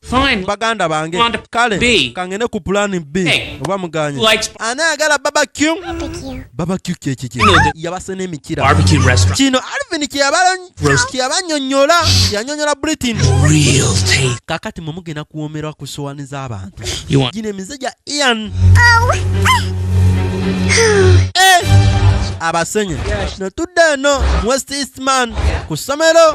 Fine. baganda bange Want to kale be. kangene ku pulani b Hey. oba muganye Likes- ani ayagala babakyu babakyu kyekiki You know the- yabase n'emikira Barbecue restaurant. kino alvin kyeyabala- Roast. kyeyabanyonyola yanyonyola britain Real taste. kakati mwe mugenda kuwomerwa ku sowani z'abantu You want gino emize gya ian Eh, abasenye netudde eno mu west eastman ku ssomero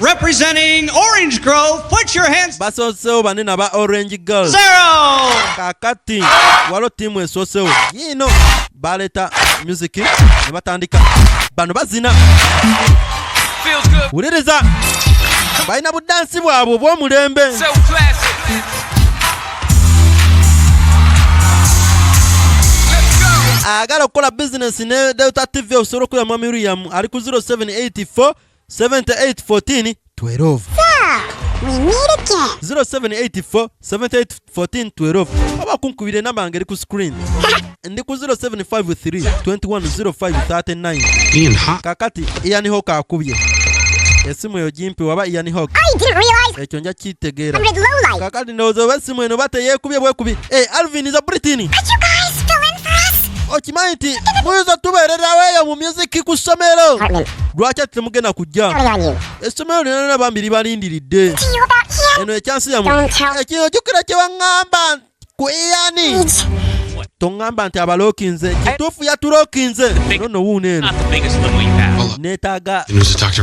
Representing Orange Grove, put your hands. Basosewo bane na ba Orange Girl. Zero. Kakati walo timu esosewo. Yino baleta music ne batandika. Bano bazina. Feels good. Wuliriza. Balina budansi bwabwe obw'omulembe. So classic. agala okukola bizinesi ne delta tv osobola okuya mwami uriyamu ali ku 0784 7814 12 We meet again. 0784 7814 12 oba kunkubira enamba ngeri ku screen ndi ku 0753 210539 kakati ian hawk akubye esimu eyo gimpi waba ian hawk ekyo nja kitegeera kakati ndowooza oba esimu eno bateyeekubye bwekubi e eh, alvin za britini Are you guys still in for us? okimanyi nti muyinza tubeererawo eyo mu muziki ku ssomero lwaki ati temugenda kujja essomero lyonana bambi libalindiridde eno ekyansi yamu ekino jukira kyewaŋŋamba ku iyani toŋŋamba nti abalookinze kituufu yatulookinze nono wuuno eno neetaaga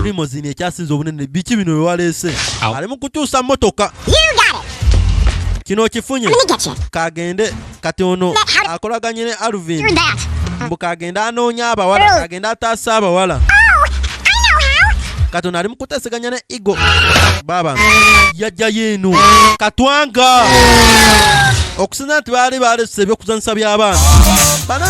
limozini ekyasinze obunene biki bino bye waleese ali mu kukyusa mmotoka kino okifunye kagende kati ono akolaganye ne Alvin mbu kagenda anoonya abawala kagenda ataasa abawala oh, kati ono ali mu kuteseganya ne igo baba yajjayo eno katwanga okusinza nti baali balese ebyokuzanyisa by'abaana